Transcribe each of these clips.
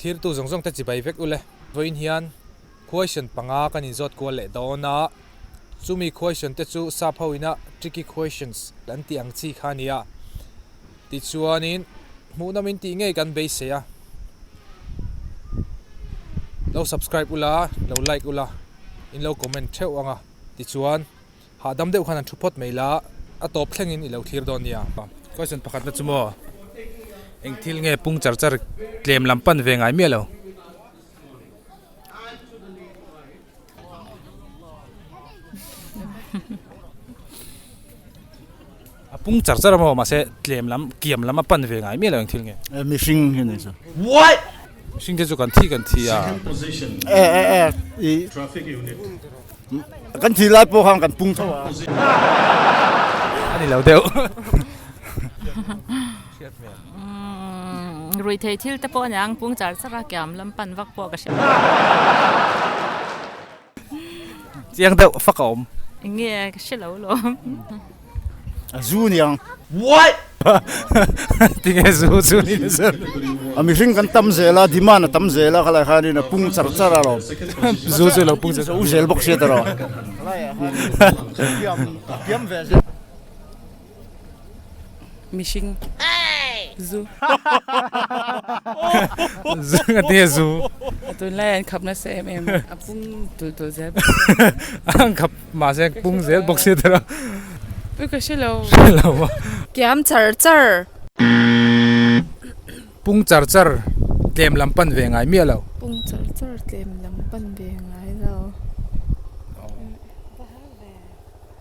Thirtu zawng zawngte chibai vek u le. Vawiin hian khuaisawn panga kan inzawt kual leh dawn a, chumi khuaisawnte chu sap hoin a tricky questions kan tih ang chi kha a ni a. Tichuanin, hmuhna min tih ngei kan beisei a. Lo subscribe ula, lo like ula, in lo comment theuh ang a. Tichuan, hahdam deuh khan an thu phawt mai la, a tawp thlengin i lo thlir dawn nia. Question pakhat la chu maw? Eng thil nge pung char char tlem lam pan ve ngai miah lo? A pung char char maw mahse tlem lam kiam lam a pan ve ngai miah lo eng thil nge? Eh, mihring hi nei chu. What? Mihring te chu kan thi kan thi a. Eh eh eh i traffic unit kan thi lai pawh khan kan pung tho a. A ni lo deuh. Rui thei thil te pawh a niang pung char char a, kiam lam pan vak pawh ka hria hle a. Chiang deuh fak a awm. Eng nge ka hre lo law. A zu a niang. What? Ti nge zu chu ni ni zet. A mihring kan tam zel a, demand a tam zel a, kha lai khanin a pung char char a lo. Zu chu lo pung zel bawk hriat a lo. mihring zu zu nga te zu tun lai an khap na se em em a pung tul tul zel ang khap ma se pung zel box se tara ui ka shelo shelo kiam char char pung char char tlem lam pan ve ngai mi alo pung char char tlem lam pan ve ngai lo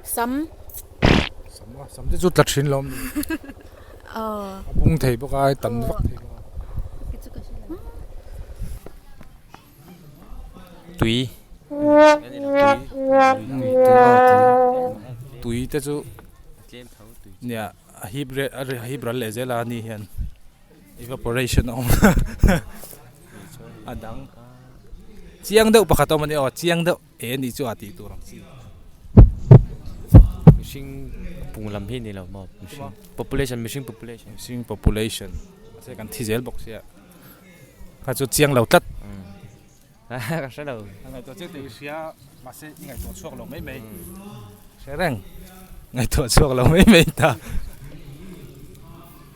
Sam. Sam maw? Sam te chu tla thin loh awm lo. Oh. A bung thei bawk a, a tam vak thei bawk a. Tui. Tui te chu nia a hip re a hip ral leh zel a ni hian evaporation a awm a dang chiang deuh pakhat a awm a ni aw chiang deuh. He ni chu a tih tur ang chi. Mihring pung lam hi ni lo maw? Mihring population, mihring population. Mihring population. Ase kan thi zel bawk sia. Kha chu chiang lo tlat. Ka hre lo. Ngaihtuah chiang tih i hria, mahse i ngaihtuah chhuak lo mai mai. Hre reng. Ngaihtuah chhuak lo mai mai ta.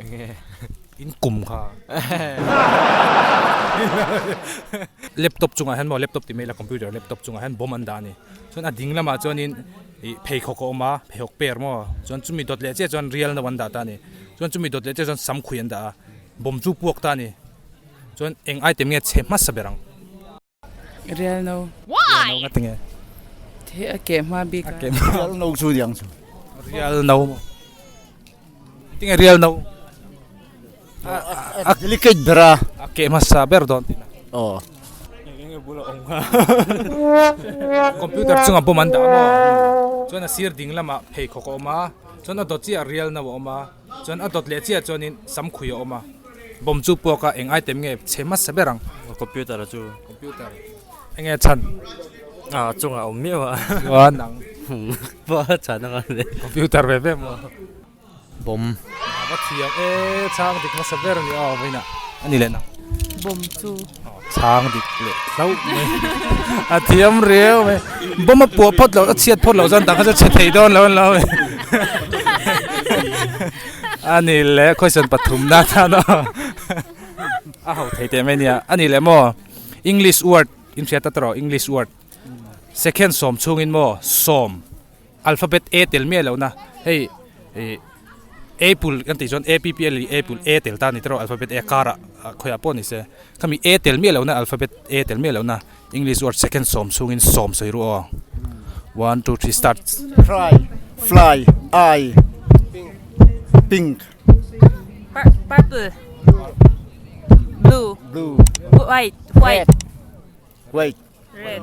Enge in kum kha laptop chunga han mo laptop ti mai la computer laptop chunga han bom an da ni chun a ding lama chuan in i phei khok oma phei hok per mo chun chumi dot le che chun real no an da ta ni chun chumi dot le che chun sam khui an da a bom chu puak ta ni chun eng item nge che hmasa ber ang. Rialno. Why? Rialno nge. He a ke hma bik. A ke hma. Rialno chu diang chu. Rialno. Tinge rialno. A delicate bera. A ke hma sa ber don tina. Oh. Enge bula ong ha. Computer chunga bom an dah mo. Chuan a sir ding lama phei khawk a awm a. Chuan a dawt chiah rialno a awm a. Chuan a dawt leh chiah chuanin sam khui a awm a, bomb chu puak a, eng item nge chhe hmasa ber ang? Computer a chu. Computer? Enge chhan? A chungah a awm miau a. Chuan ang. Hmpa chhan anga le. Computer ve ve maw? Bomb. Ava thiam e, chhang dik hmasa ber a ni awm a, vawiinah a ni leh nang. Bomb chu. Chhang dik leh hlauh mai a thiam riau mai. Bawm a puah phawt loh, a chhiat phawt loh chuan tang kha chu chhe thei dawn lo lo. A ni le, question pathum nan a ni aw. A hau thei teh mai nia. A ni leh maw? English word, inhriat ta tawrh, English word. Second sawm chhungin maw? Sawm. Alphabet A tel miah lohna hei Apple kan tih chuan APPLE ni Apple A tel ta ni tawrh Alphabet A kar ah khawihah pawh ni se khami A tel miah lohna Alphabet A tel miah lohna English word second sawm chhungin sawm sawi ruh aw one two three start Try fly eye pink purple blue blue white white white red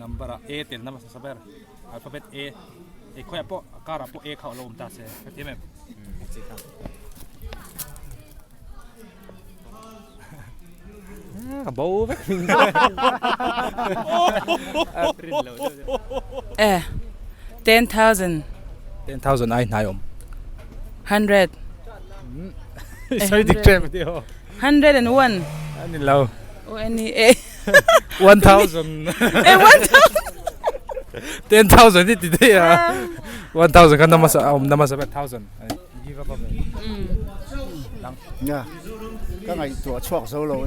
Number ah A tel na masa ber alphabet A ei khawih ah pawh a kar ah pawh A kha a lo awm ta se ka ti em em bo vek hling eh ten thousand ten thousand ai hnai om hundred sai dik ṭem eo Hundred and one. Ani lo. Oh ani e. One thousand. E one thousand. Ten thousand ni ti dei a. One thousand kan number sa um number sa thousand. Give up a me. Dang. Nga. Ka ngai tu a chuak zo lo.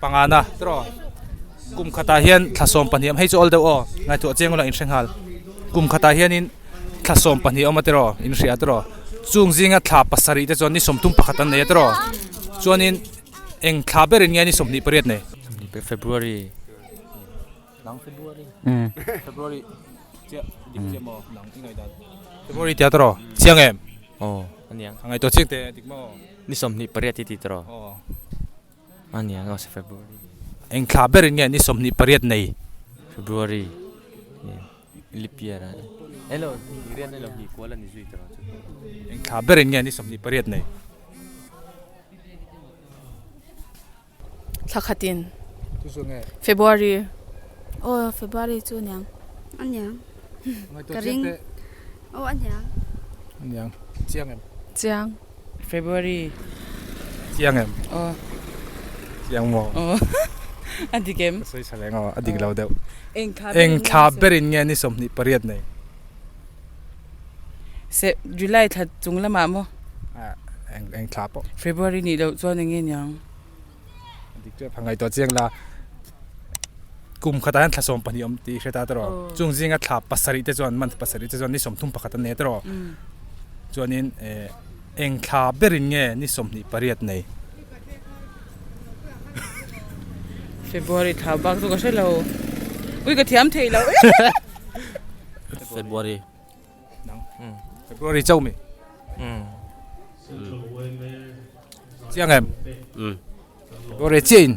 Pangana, draw, kum khatah hian thla sawm pahnih a awm. Hei chu awl deuh aw, ngaihtuah cheng ula inhre nghal. Kum khatah hianin thla sawm pahnih a awm ati raw, inhriat ati raw. Chung zinga thla pasarih te chuan ni sawm thum pakhat an nei ati raw. Chuanin eng thla berin nge ni sawmhnih pariat nei? February. Nang February February chiah dik chiah mo nang i ngai dan February tia taro chiang em aw aniang a ngai to chiang te dik mo ni sawmhnih pariat i ti taro aw aniang aw February eng thla ber in nge ni sawmhnih pariat nei February leap year a elo i riat nilo hnih kual ani zui taro chu eng thla ber in nge ni sawmhnih pariat nei. Thla khatin February aw February chu aniang. Aniang. Ka ring. Aw aniang. Aniang. Chiang em. Chiang. February. Chiang em. Aw. Chiang maw. Aw. A dik em. Ka sawi sa leng aw a dik lo deuh. Engthla berin nge ni sawmhnih pariat nei. Sep, July thla chung lamah maw? Ah, eng, eng thla pawh. February nih loh chuan enge niang? Dik chu a pha ngaihtuah chiang la. Kum khatah hian thla sawm pahnih awm tih i hre ta te rawh. Oh. Chung zinga thla pasarih te chuan, month pasarih te chuan ni sawmthum pakhat a nei ta rawh. Umm. Chuanin, eh. Eng thla berin nge ni sawmhnih pariat nei? February thla bak chu ka hre lo. Ui ka thiam thei lo e. February. February chomi. Chiang em. February chiah in.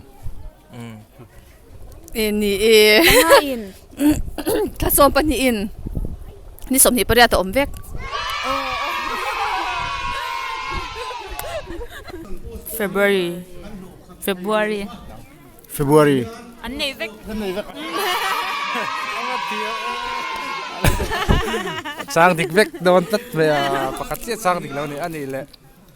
Ni i. Pangaiin. Thlasawn pahnihin. Ni sawmhnih pariat a awm vek. February. February. February. An nei vek. An nei vek. Chang dik vek dawn tlat mai a. Pakhat chiah chang dik lo nih a nih leh.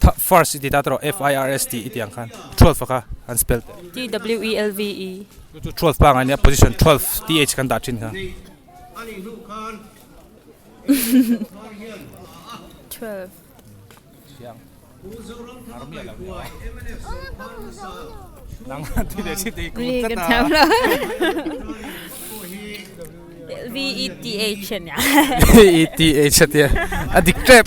First i ti ta tawh, F I R S T i ti ang khan twelve a kha an spell teh. T W E L V E. Chu chu twelve pangai nia position twelve T H kan dah thin kha. Twelve. V E T H ania. V E T H ania. Adik tep.